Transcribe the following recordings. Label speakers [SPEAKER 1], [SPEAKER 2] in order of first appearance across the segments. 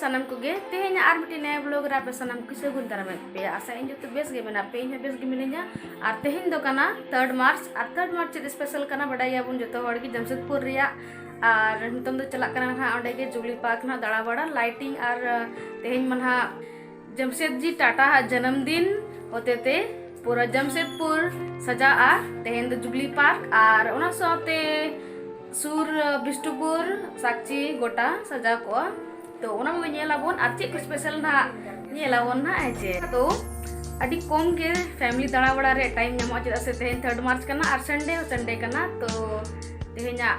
[SPEAKER 1] ᱥᱟᱱᱟᱢ ᱠᱚᱜᱮ ᱛᱮᱦᱮᱧ ᱟᱨ ᱢᱤᱫᱴᱮᱱ ᱱᱟᱭᱟ ᱵᱞᱚᱜ ᱨᱮ ᱟᱯᱮ ᱥᱟᱱᱟᱢ ᱠᱚ ᱥᱟᱹᱜᱩᱱ ᱫᱟᱨᱟᱢᱮᱫ ᱯᱮᱭᱟ ᱟᱥᱟ ᱤᱧ ᱡᱚᱛᱚ ᱵᱮᱥ ᱜᱮ ᱢᱮᱱᱟᱜ ᱯᱮ ᱤᱧ ᱦᱚᱸ ᱵᱮᱥ ᱜᱮ ᱢᱤᱱᱟᱹᱧᱟ ᱟᱨ ᱛᱮᱦᱮᱧ ᱫᱚ ᱠᱟᱱᱟ ᱛᱷᱟᱨᱰ ᱢᱟᱨᱪ ᱟᱨ ᱛᱷᱟᱨᱰ ᱢᱟᱨᱪ ᱪᱮᱫ ᱥᱯᱮᱥᱟᱞ ᱠᱟᱱᱟ ᱵᱟᱰᱟᱭᱟᱵᱚᱱ ᱡᱚᱛᱚ ᱦᱚᱲ ᱜᱮ ᱡᱟᱢᱥᱮᱫᱽᱯᱩᱨ ᱨᱮᱭᱟᱜ ᱟᱨ ᱱᱤᱛᱚᱝ ᱫᱚ ᱪᱟᱞᱟᱜ ᱠᱟᱱᱟ ᱱᱟᱦᱟᱜ ᱚᱸᱰᱮ ᱜᱮ ᱡᱩᱵᱽᱞᱤ ᱯᱟᱨᱠ ᱱᱟᱦᱟᱜ ᱫᱟᱬᱟ ᱵᱟᱲᱟ ᱞᱟᱭᱴᱤᱝ ᱟᱨ ᱛᱮᱦᱮᱧ ᱢᱟ ᱱᱟᱦᱟᱜ ᱡᱟᱢᱥᱮᱫᱽᱡᱤ ᱴᱟᱴᱟ ᱟᱜ ᱡᱟᱱᱟᱢ ᱫᱤᱱ ᱦᱚᱛᱮᱛᱮ ᱯᱩᱨᱟᱹ ᱡᱟᱢᱥᱮᱫᱽᱯᱩᱨ ᱥᱟᱡᱟᱜᱼᱟ ᱛᱮᱦᱮᱧ ᱫᱚ ᱡᱩᱵᱽᱞᱤ ᱯᱟᱨᱠ ᱟᱨ ᱚᱱᱟ ᱥᱟᱶᱛᱮ ᱥᱩᱨ ᱵᱤᱥᱱᱩᱯᱩᱨ ᱥᱟᱠᱪᱤ ᱜᱚᱴᱟ ᱥᱟᱡᱟᱣ ᱠᱚᱜᱼᱟ ᱛᱚ ᱚᱱᱟ ᱠᱚᱜᱮ ᱧᱮᱞ ᱟᱵᱚᱱ ᱟᱨ ᱪᱮᱫ ᱠᱚ ᱥᱯᱮᱥᱟᱞ ᱱᱟᱦᱟᱜ ᱧᱮᱞ ᱟᱵᱚᱱ ᱱᱟᱦᱟᱜ ᱦᱮᱸ ᱪᱮ ᱛᱚ ᱟᱹᱰᱤ ᱠᱚᱢ ᱜᱮ ᱯᱷᱮᱢᱞᱤ ᱫᱟᱬᱟ ᱵᱟᱲᱟ ᱨᱮ ᱴᱟᱭᱤᱢ ᱧᱟᱢᱚᱜᱼᱟ ᱪᱮᱫᱟᱜ ᱥᱮ ᱛᱮᱦᱮᱧ ᱛᱷᱟᱨᱰ ᱢᱟᱨᱪ ᱠᱟᱱᱟ ᱟᱨ ᱥᱟᱱᱰᱮ ᱦᱚᱸ ᱥᱟᱱᱰᱮ ᱠᱟᱱᱟ ᱛᱚ ᱛᱮᱦᱮᱧᱟᱜ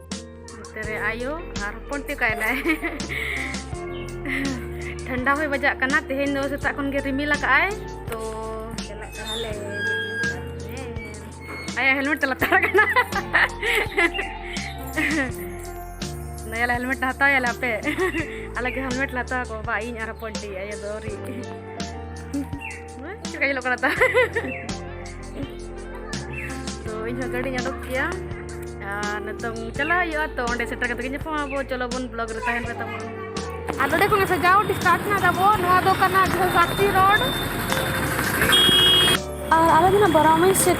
[SPEAKER 1] ᱛᱮᱨᱮ ᱟᱭᱳ ᱟᱨ ᱦᱚᱯᱚᱱ ᱛᱮ ᱠᱟᱭᱱᱟᱭ ᱴᱷᱟᱱᱰᱟ ᱦᱚᱭ ᱵᱟᱡᱟᱜ ᱠᱟᱱᱟ ᱛᱮᱦᱮᱧ ᱫᱚ ᱥᱮᱛᱟᱜ ᱠᱷᱚᱱ ᱜᱮ ᱨᱤᱢᱤᱞ ᱟᱠᱟᱜᱼᱟᱭ ᱛᱚ ᱪᱟᱞᱟᱜ ᱠᱟᱱᱟᱞᱮ ᱟᱭᱟᱜ ᱦᱮᱞᱢᱮᱴ ᱛᱮ ᱞᱟᱛᱟᱨ ᱠᱟᱱᱟ ᱱᱟᱭᱟᱞᱟ ᱦᱮᱞᱢᱮᱴ ᱦᱟᱛᱟᱣ ᱭᱟᱞᱮ ᱟᱯᱮ ᱟᱞᱮ ᱜᱮ ᱦᱮᱞᱢᱮᱴ ᱞᱟᱛᱟᱣ ᱠᱚ ᱵᱟ ᱤᱧ ᱟᱨ ᱦᱚᱯᱚᱱ ᱛᱮ ᱟᱭᱳ ᱫᱚ ᱟᱹᱣᱨᱤ ᱪᱮᱫ ᱞᱮᱠᱟ ᱧᱮᱞᱚᱜ ᱠᱟᱱᱟ ᱛᱟ ᱛᱚ ᱤᱧ ᱦᱚᱸ ᱜᱟᱹᱰᱤᱧ ᱚᱰᱚᱠ ᱠᱮᱭᱟ ᱟᱨ ᱱᱤᱛᱚᱝ ᱪᱟᱞᱟᱜ ᱦᱩᱭᱩᱜᱼᱟ ᱛᱚ ᱚᱸᱰᱮ ᱥᱮᱴᱮᱨ ᱠᱟᱛᱮ ᱜᱮ ᱧᱟᱯᱟᱢ ᱟᱵᱚ ᱪᱚᱞᱚ ᱵᱚᱱ ᱵᱞᱚᱜ ᱨᱮ ᱛᱟᱦᱮᱱ ᱯᱮ ᱛᱟᱵᱚᱱ ᱟᱨ ᱱᱚᱰᱮ ᱠᱷᱚᱱ ᱥᱟᱡᱟᱣ ᱰᱤᱥᱴᱟᱨᱴ ᱱᱟ ᱛᱟᱵᱚ ᱱᱚᱣᱟ ᱫᱚ ᱠᱟᱱᱟ ᱡᱷᱟᱹᱞ ᱥᱟᱠᱛᱤ ᱨᱳᱰ ᱟᱨ ᱟᱞᱮ ᱫᱚ ᱵᱟᱨᱟᱢᱤ ᱥᱮᱫ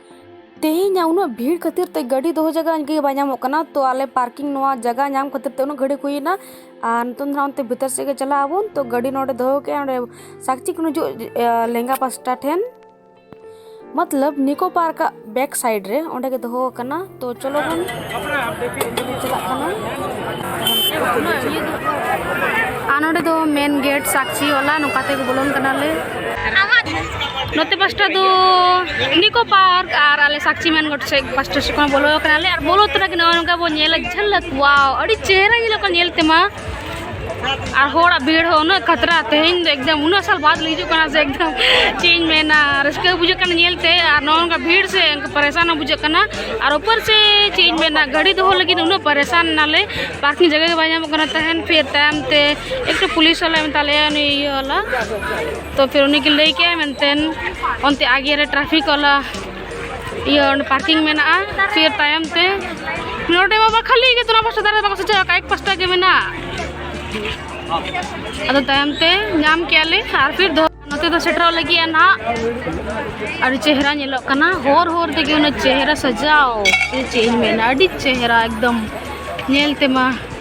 [SPEAKER 1] ᱛᱮᱦᱮᱧᱟᱜ ᱩᱱᱟᱹᱜ ᱵᱷᱤᱲ ᱠᱷᱟᱹᱛᱤᱨ ᱛᱮ ᱜᱟᱹᱰᱤ ᱫᱚᱦᱚ ᱡᱟᱭᱜᱟ ᱜᱮ ᱵᱟᱭ ᱧᱟᱢᱚᱜ ᱠᱟᱱᱟ ᱛᱚ ᱟᱞᱮ ᱯᱟᱨᱠᱤᱝ ᱱᱚᱣᱟ ᱡᱟᱭᱜᱟ ᱧᱟᱢ ᱠᱷᱟᱹᱛᱤᱨ ᱛᱮ ᱩᱱᱟᱹᱜ ᱜᱷᱟᱹᱲᱤᱡ ᱦᱩᱭᱮᱱᱟ ᱟᱨ ᱱᱤᱛᱚᱝ ᱫᱚ ᱦᱟᱸᱜ ᱚᱱᱛᱮ ᱵᱷᱤᱛᱟᱹᱨ ᱥᱮᱫ ᱜᱮ ᱪᱟᱞᱟᱜ ᱟᱵᱚᱱ ᱛᱚ ᱜᱟᱹᱰᱤ ᱱᱚᱰᱮ ᱫᱚᱦᱚ ᱠᱮᱜᱼᱟ ᱚᱸᱰᱮ ᱥᱟᱠᱪᱤ ᱠᱷᱚᱱ ᱦᱤᱡᱩᱜ ᱞᱮᱸᱜᱟ ᱯᱟᱥᱴᱟ ᱴᱷᱮᱱ ᱢᱚᱛᱞᱚᱵ ᱱᱤᱠᱳ ᱯᱟᱨᱠᱟᱜ ᱵᱮᱠ ᱥᱟᱭᱤᱰ ᱨᱮ ᱚᱸᱰᱮ ᱜᱮ ᱫᱚᱦᱚ ᱟᱠᱟᱱᱟ ᱛᱚ ᱪᱚᱞᱚ ᱵᱚᱱ ᱪᱟᱞᱟᱜ ᱠᱟᱱᱟ ᱟᱨ ᱱᱚᱰᱮ ᱫᱚ ᱢᱮᱱ ᱜᱮᱴ ᱥᱟᱠᱪᱤ ᱚᱞᱟ ᱱᱚᱝᱠᱟ ᱛᱮ ᱵᱚᱞᱚᱱ ᱠᱟᱱᱟᱞᱮ ᱱᱚᱛᱮ ᱯᱟᱥᱴᱟ ᱫᱚ ᱱᱤᱠᱳ ᱯᱟᱨᱠ ᱟᱨ ᱟᱞᱮ ᱥᱟᱠᱪᱤ ᱢᱮᱱ ᱜᱮᱴ ᱥᱮᱫ ᱯᱟᱥᱴᱟ ᱥᱮᱫ ᱠᱷᱚᱱ ᱵᱚᱞᱚ ᱠᱟᱱᱟᱞᱮ ᱟᱨ ᱵᱚᱞᱚ ᱛᱚᱨᱟ ᱜᱮ ᱱᱚᱜᱼᱚ ᱱᱚᱝᱠᱟ ᱵᱚᱱ ᱧᱮᱞᱟ ᱡᱷᱟᱞᱟᱠ ᱚᱣᱟᱣ ᱟᱹᱰᱤ ᱪᱮᱦᱨᱟ ᱧᱮᱞᱚᱜ ᱠᱟᱱᱟ ᱧᱮᱞ ᱛᱮᱢᱟ ᱟᱨ ᱦᱚᱲᱟᱜ ᱵᱷᱤᱲ ᱦᱚᱸ ᱩᱱᱟᱹᱜ ᱠᱷᱟᱛᱨᱟ ᱛᱮᱦᱮᱧ ᱫᱚ ᱮᱠᱫᱚᱢ ᱩᱱᱟᱹᱜ ᱥᱟᱞ ᱵᱟᱫ ᱞᱮ ᱦᱤᱡᱩᱜ ᱠᱟᱱᱟ ᱥᱮ ᱮᱠᱫᱚᱢ ᱪᱮᱫ ᱤᱧ ᱢᱮᱱᱟ ᱨᱟᱹᱥᱠᱟᱹ ᱵᱩᱡᱷᱟᱹᱜ ᱠᱟᱱᱟ ᱧᱮᱞ ᱛᱮ ᱟᱨ ᱱᱚᱜᱼᱚ ᱱᱚᱝᱠᱟ ᱵᱷᱤᱲ ᱥᱮ ᱯᱟᱨᱮᱥᱟᱱ ᱦᱚᱸ ᱵᱩᱡᱷᱟᱹᱜ ᱠᱟᱱᱟ ᱟᱨ ᱩᱯᱚᱨ ᱥᱮ ᱪᱮᱫ ᱤᱧ ᱢᱮᱱᱟ ᱜᱟᱹᱰᱤ ᱫᱚᱦᱚ ᱞᱟᱹᱜᱤᱫ ᱩᱱᱟᱹᱜ ᱯᱟᱨᱮᱥᱟᱱ ᱱᱟᱞᱮ ᱯᱟᱨᱠᱤᱝ ᱡᱟᱭᱜᱟ ᱜᱮ ᱵᱟᱭ ᱧᱟᱢᱚᱜ ᱠᱟᱱᱟ ᱛᱟᱦᱮᱱ ᱯᱷᱤᱨ ᱛᱟᱭᱚᱢ ᱛᱮ ᱮᱠᱴᱩ ᱯᱩᱞᱤᱥ ᱦᱚᱸᱞᱮ ᱢᱮᱛᱟ ᱞᱮᱭᱟ ᱩᱱᱤ ᱤᱭᱟᱹ ᱣᱟᱞᱟ ᱛᱚ ᱯᱷᱤᱨ ᱩᱱᱤ ᱜᱮ ᱞᱟᱹᱭ ᱠᱮᱫᱼᱟᱭ ᱢᱮᱱᱛᱮ ᱚᱱᱛᱮ ᱟᱜᱮ ᱨᱮ ᱴᱨᱟᱯᱷᱤᱠ ᱣᱟᱞᱟ ᱤᱭᱟᱹ ᱚᱸᱰᱮ ᱯᱟᱨᱠᱤᱝ ᱢᱮᱱᱟᱜᱼᱟ ᱯᱷᱤᱨ ᱛᱟᱭᱚᱢ ᱛᱮ ᱱᱚᱰᱮ ᱢᱟ ᱵᱟᱝ ᱠᱷᱟᱹᱞᱤ ᱜᱮ ᱫᱚᱱᱟ ᱯᱟᱥᱴᱟ ᱫᱷᱟᱨᱮ ᱵᱟᱠᱚ ᱥᱮᱪᱮᱫ ᱟᱠᱟᱫ ᱮᱠ ᱯᱟᱥᱴᱟ ᱜᱮ ᱢᱮᱱᱟᱜᱼᱟ ᱟᱫᱚ ᱛᱟᱭᱚᱢ ᱛᱮ ᱧᱟᱢ ᱠᱮᱭᱟᱞᱮ ᱟᱨ ᱯᱷᱤᱨ ᱫᱚ ᱱᱚᱛᱮ ᱫᱚ ᱥᱮᱴᱮᱨᱚᱜ ᱞᱟᱹᱜᱤᱫ ᱱᱟᱦᱟᱜ ᱟᱹᱰᱤ ᱪᱮᱦᱨᱟ ᱧᱮᱞᱚᱜ ᱠᱟᱱᱟ ᱦᱚᱨ ᱦᱚᱨ ᱛᱮᱜᱮ ᱩᱱᱟᱹᱜ ᱪᱮᱦᱨᱟ ᱥᱟᱡᱟᱣ ᱪᱮᱫ ᱤᱧ ᱢᱮᱱᱟ ᱟᱹᱰᱤ ᱪᱮᱦᱨᱟ ᱮᱠᱫᱚᱢ ᱧᱮᱞ ᱛᱮᱢᱟ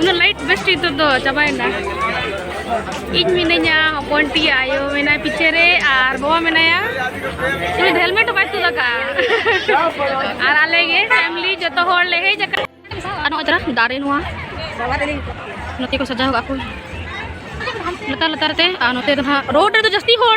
[SPEAKER 1] ᱩᱱᱟᱹᱜ ᱞᱟᱭᱤᱴ ᱵᱮᱥᱴ ᱱᱤᱛᱚᱜ ᱫᱚ ᱪᱟᱵᱟᱭᱮᱱᱟ ᱤᱧ ᱢᱤᱱᱟᱹᱧᱟ ᱦᱚᱯᱚᱱ ᱴᱤ ᱟᱭᱳ ᱢᱮᱱᱟᱭ ᱯᱤᱪᱷᱮ ᱨᱮ ᱟᱨ ᱵᱟᱵᱟ ᱢᱮᱱᱟᱭᱟ ᱩᱱᱤ ᱫᱚ ᱦᱮᱞᱢᱮᱴ ᱦᱚᱸ ᱵᱟᱭ ᱛᱩᱫ ᱟᱠᱟᱫᱼᱟ ᱟᱨ ᱟᱞᱮ ᱜᱮ ᱯᱷᱮᱢᱞᱤ ᱡᱚᱛᱚ ᱦᱚᱲ ᱞᱮ ᱦᱮᱡ ᱟᱠᱟᱱᱟ ᱟᱨ ᱱᱚᱜᱼᱚᱭ ᱛᱚᱨᱟ ᱫᱟᱨᱮ ᱱᱚᱣᱟ ᱱᱚᱛᱮ ᱠᱚ ᱥᱟᱡᱟᱣ ᱠᱟᱜᱼᱟ ᱠᱚ ᱞᱟᱛᱟᱨ ᱞᱟᱛᱟᱨ ᱛᱮ ᱟᱨ ᱱᱚᱛᱮ ᱫᱚ ᱦᱟᱸᱜ ᱨᱳᱰ ᱨᱮᱫᱚ ᱡᱟᱹᱥᱛᱤ ᱦᱚᱲ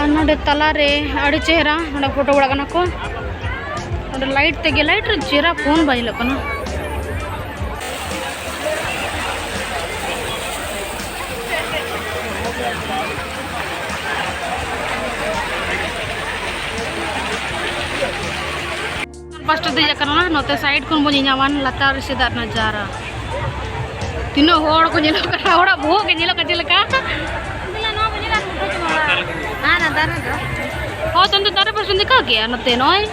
[SPEAKER 1] ᱟᱨ ᱱᱚᱰᱮ ᱛᱟᱞᱟ ᱨᱮ ᱟᱹᱰᱤ ᱪᱮᱦᱨᱟ ᱱᱚᱰᱮ ᱯᱷᱳᱴᱳ ᱵᱟᱲᱟᱜ ᱠᱟᱱᱟ ᱠᱚ ᱱᱚᱰᱮ ᱞᱟᱭᱤᱴ ᱛᱮᱜᱮ ᱞᱟᱭᱤᱴ ᱨᱮ ᱪᱮᱦᱨᱟ ᱯᱷᱳᱱ ᱵᱟᱭ ᱧᱮᱞᱚᱜ ᱠᱟᱱᱟ ᱯᱟᱥᱴᱟ ᱫᱮᱡ ᱟᱠᱟᱱᱟ ᱱᱚᱛᱮ ᱥᱟᱭᱤᱰ ᱠᱷᱚᱱ ᱵᱚᱱ ᱧᱮᱧᱟᱢᱟᱱ ᱞᱟᱛᱟᱨ ᱨᱮ ᱥᱮᱫᱟᱜ ᱱᱟᱡᱟᱨᱟ ᱛᱤᱱᱟᱹᱜ ᱦᱚᱲ ᱠᱚ ᱧᱮᱞᱚᱜ ᱠᱟᱱᱟ ᱦᱚᱲᱟᱜ ᱵᱚᱦᱚᱜ ᱜᱮ ᱧᱮᱞᱚᱜ ᱠᱟᱱᱟ ᱪᱮᱫ ᱞᱮᱠᱟ ᱦᱚᱸ ᱛᱚᱱᱛᱮ ᱫᱟᱨᱮ ᱯᱟᱥᱮ ᱫᱮᱠᱷᱟ ᱜᱮᱭᱟ ᱱᱚᱛᱮ ᱱᱚᱜᱼᱚᱭ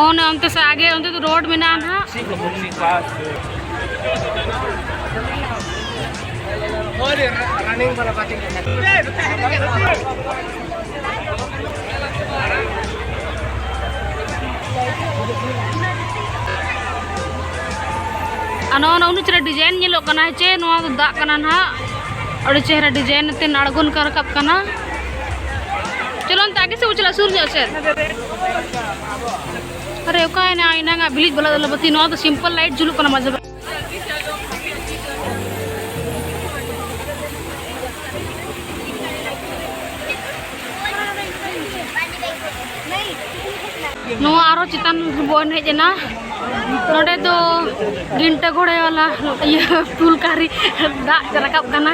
[SPEAKER 1] ᱚᱱᱮ ᱚᱱᱛᱮ ᱥᱮ ᱟᱜᱮ ᱚᱱᱛᱮ ᱫᱚ ᱨᱳᱰ ᱢᱮᱱᱟᱜᱼᱟ ᱱᱟᱦᱟᱜ ᱨᱟᱱᱤᱝ ᱵᱟᱞᱟ ᱵᱟᱛᱤᱝ ᱟᱱᱟ ᱚᱱᱟ ᱩᱱᱩ ᱪᱮᱦᱨᱟ ᱰᱤᱡᱟᱭᱤᱱ ᱧᱮᱞᱚᱜ ᱠᱟᱱᱟ ᱪᱮ ᱱᱚᱣᱟ ᱫᱚ ᱫᱟᱜ ᱠᱟᱱᱟ ᱱᱟᱦᱟᱜ ᱟᱹᱰᱤ ᱪᱮᱦᱨᱟ ᱰᱤᱡᱟᱭᱤᱱ ᱛᱮ ᱟᱬᱜᱚᱱ ᱠᱟᱱ ᱨᱟᱠᱟᱵ ᱠᱟᱱᱟ ᱪᱚᱞᱚ ᱚᱱᱛᱮ ᱟᱜᱮ ᱥᱮᱫ ᱪᱟᱞᱟᱜ ᱥᱩᱨ ᱧᱚᱜ ᱥᱮᱫ ᱟᱨᱮ ᱚᱠᱟᱭᱮᱱᱟ ᱮᱱᱟᱝᱟᱜ ᱵᱤᱞᱤᱡ ᱵᱟᱞᱟ ᱫᱚ ᱵᱟᱹᱛᱤ ᱱᱚᱣᱟ ᱫᱚ ᱥᱤᱢᱯᱚᱞ ᱞᱟᱭᱤᱴ ᱡᱩᱞᱩᱜ ᱠᱟᱱᱟ ᱢᱟᱡᱷᱮ ᱱᱚᱣᱟ ᱟᱨᱚ ᱪᱮᱛᱟᱱ ᱵᱚᱱ ᱦᱮᱡ ᱮᱱᱟ ᱱᱚᱰᱮ ᱫᱚ ᱜᱤᱱᱴᱟ ᱜᱷᱚᱲᱮ ᱣᱟᱞᱟ ᱤᱭᱟᱹ ᱯᱩᱞ ᱠᱟᱨᱤ ᱫᱟᱜ ᱨᱟᱠᱟᱵ ᱠᱟᱱᱟ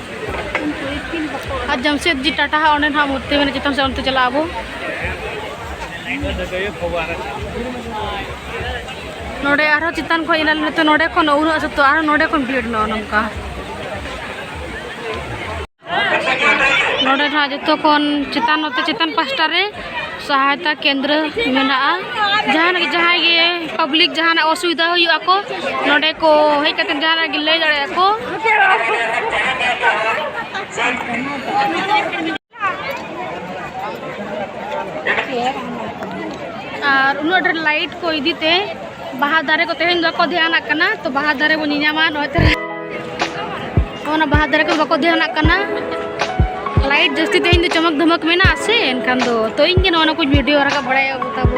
[SPEAKER 1] ᱟᱨ ᱡᱟᱢᱥᱮᱫ ᱡᱤ ᱴᱟᱴᱟ ᱦᱟᱸᱜ ᱚᱸᱰᱮ ᱱᱟᱦᱟᱜ ᱢᱩᱨᱛᱤ ᱢᱮᱱᱟᱜᱼᱟ ᱪᱮᱛᱟᱱ ᱥᱮᱫ ᱚᱱᱛᱮ ᱪᱟᱞᱟᱜ ᱟᱵᱚ ᱱᱚᱰᱮ ᱟᱨᱦᱚᱸ ᱪᱮᱛᱟᱱ ᱠᱷᱚᱱ ᱮᱱᱟᱞᱮ ᱱᱤᱛᱚᱜ ᱱᱚᱰᱮ ᱠᱷᱚᱱ ᱩᱱᱟᱹᱜ ᱥᱚᱛᱚ ᱟᱨᱦᱚᱸ ᱱᱚᱰᱮ ᱠᱷᱚᱱ ᱵᱷᱤᱲ ᱱᱚᱜᱼᱚ ᱱᱚᱝᱠᱟ ᱱᱚᱰᱮ ᱱᱟᱦᱟᱜ ᱡᱚᱛᱚ ᱠᱷᱚᱱ ᱪᱮᱛᱟᱱ ᱱᱚᱛᱮ ᱪᱮᱛᱟᱱ ᱯᱟᱥᱴᱟ ᱨᱮ ᱥᱟᱦᱟᱭᱛᱟ ᱠᱮᱱᱫᱨᱚ ᱢᱮᱱᱟᱜᱼᱟ ᱡᱟᱦᱟᱱᱟᱜ ᱡᱟᱦᱟᱸᱭ ᱜᱮ ᱯᱟᱵᱽᱞᱤᱠ ᱡᱟᱦᱟᱱᱟᱜ ᱚᱥᱩᱵᱤᱫᱷᱟ ᱦᱩᱭᱩᱜ ᱟᱠᱚ ᱱᱚᱰᱮ ᱠᱚ ᱦᱮᱡ ᱠᱟᱛᱮ ᱡᱟᱦᱟᱱᱟᱜ ᱜᱮ ᱞᱟᱹᱭ ᱫᱟᱲᱮᱭᱟᱜᱼᱟ ᱠᱚ ᱟᱨ ᱩᱱᱟᱹᱜ ᱰᱷᱮᱨ ᱞᱟᱭᱤᱴ ᱠᱚ ᱤᱫᱤᱛᱮ ᱵᱟᱦᱟ ᱫᱟᱨᱮ ᱠᱚ ᱛᱮᱦᱮᱧ ᱵᱟᱠᱚ ᱫᱷᱮᱭᱟᱱᱟᱜ ᱠᱟᱱᱟ ᱛᱚ ᱵᱟᱦᱟ ᱫᱟᱨᱮ ᱵᱚᱱ ᱧᱮᱧᱟᱢᱟ ᱱᱚᱜᱼᱚᱭ ᱛᱟᱨᱟ ᱚᱱᱟ ᱵᱟᱦᱟ ᱫᱟᱨᱮ ᱠᱚ ᱵᱟᱠᱚ ᱫᱷᱮᱭᱟᱱᱟᱜ ᱠᱟᱱᱟ ᱞᱟᱭᱤᱴ ᱡᱟᱹᱥᱛᱤ ᱛᱮᱦᱮᱧ ᱫᱚ ᱪᱚᱢᱚᱠ ᱫᱷᱚᱢᱚᱠ ᱢᱮᱱᱟᱜᱼᱟ ᱥᱮ ᱮᱱᱠᱷᱟᱱ ᱫᱚ ᱛᱚ ᱤᱧ ᱜᱮ ᱱᱚᱜᱼᱚ ᱱᱟ ᱠᱚᱧ ᱵᱷᱤᱰᱤᱭᱳ ᱨᱟᱠᱟᱵ ᱵᱟᱲᱟᱭᱟ ᱛᱟᱵᱚ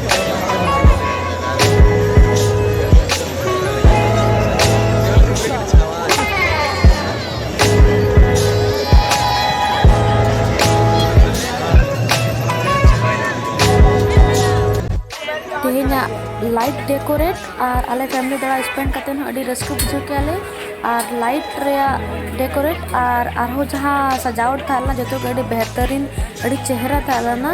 [SPEAKER 1] ᱞᱟᱭᱤᱴ ᱰᱮᱠᱳᱨᱮᱴ ᱟᱨ ᱟᱞᱮ ᱯᱷᱮᱢᱞᱤ ᱫᱟᱬᱟ ᱥᱯᱮᱱᱰ ᱠᱟᱛᱮ ᱦᱚᱸ ᱟᱹᱰᱤ ᱨᱟᱹᱥᱠᱟᱹ ᱵᱩᱡᱷᱟᱹᱣ ᱠᱮᱜᱼᱟ ᱞᱮ ᱟᱨ ᱞᱟᱭᱤᱴ ᱨᱮᱭᱟᱜ ᱰᱮᱠᱳᱨᱮᱴ ᱟᱨ ᱟᱨᱦᱚᱸ ᱡᱟᱦᱟᱸ ᱥᱟᱡᱟᱣᱴ ᱛᱟᱦᱮᱸ ᱞᱮᱱᱟ ᱡᱚᱛᱚ ᱜᱮ ᱟᱹᱰᱤ ᱵᱮᱦᱛᱟᱨᱤᱱ ᱟᱹᱰᱤ ᱪᱮᱦᱨᱟ ᱛᱟᱦᱮᱸ ᱞᱮᱱᱟ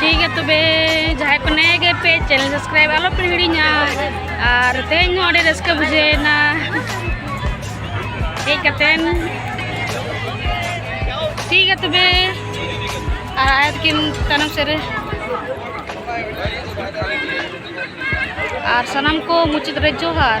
[SPEAKER 1] ᱴᱷᱤᱠ ᱜᱮᱭᱟ ᱛᱚᱵᱮ ᱡᱟᱦᱟᱸᱭ ᱠᱚ ᱱᱮᱭᱟ ᱜᱮ ᱯᱮ ᱪᱮᱱᱮᱞ ᱥᱟᱵᱥᱠᱨᱟᱭᱤᱵ ᱟᱞᱚ ᱯᱮ ᱦᱤᱲᱤᱧᱟ ᱟᱨ ᱛᱮᱦᱮᱧ ᱦᱚᱸ ᱟᱹᱰᱤ ᱨᱟᱹᱥᱠᱟᱹ ᱵᱩᱡᱷᱟᱹᱣᱮᱱᱟ ᱦᱮᱡ ᱠᱟᱛᱮᱱ ᱴᱷᱤᱠ ᱜᱮᱭᱟ ᱛᱚᱵᱮ ᱟᱨ ᱟᱭᱟ ᱛᱟᱹᱠᱤᱱ ᱛᱟᱭᱱᱚᱢ ᱥᱮᱫ ᱨᱮ ᱟᱨ ᱥᱟᱱᱟᱢ ᱠᱚ ᱢᱩᱪᱟᱹᱫ ᱨᱮ ᱡᱚᱦᱟᱨ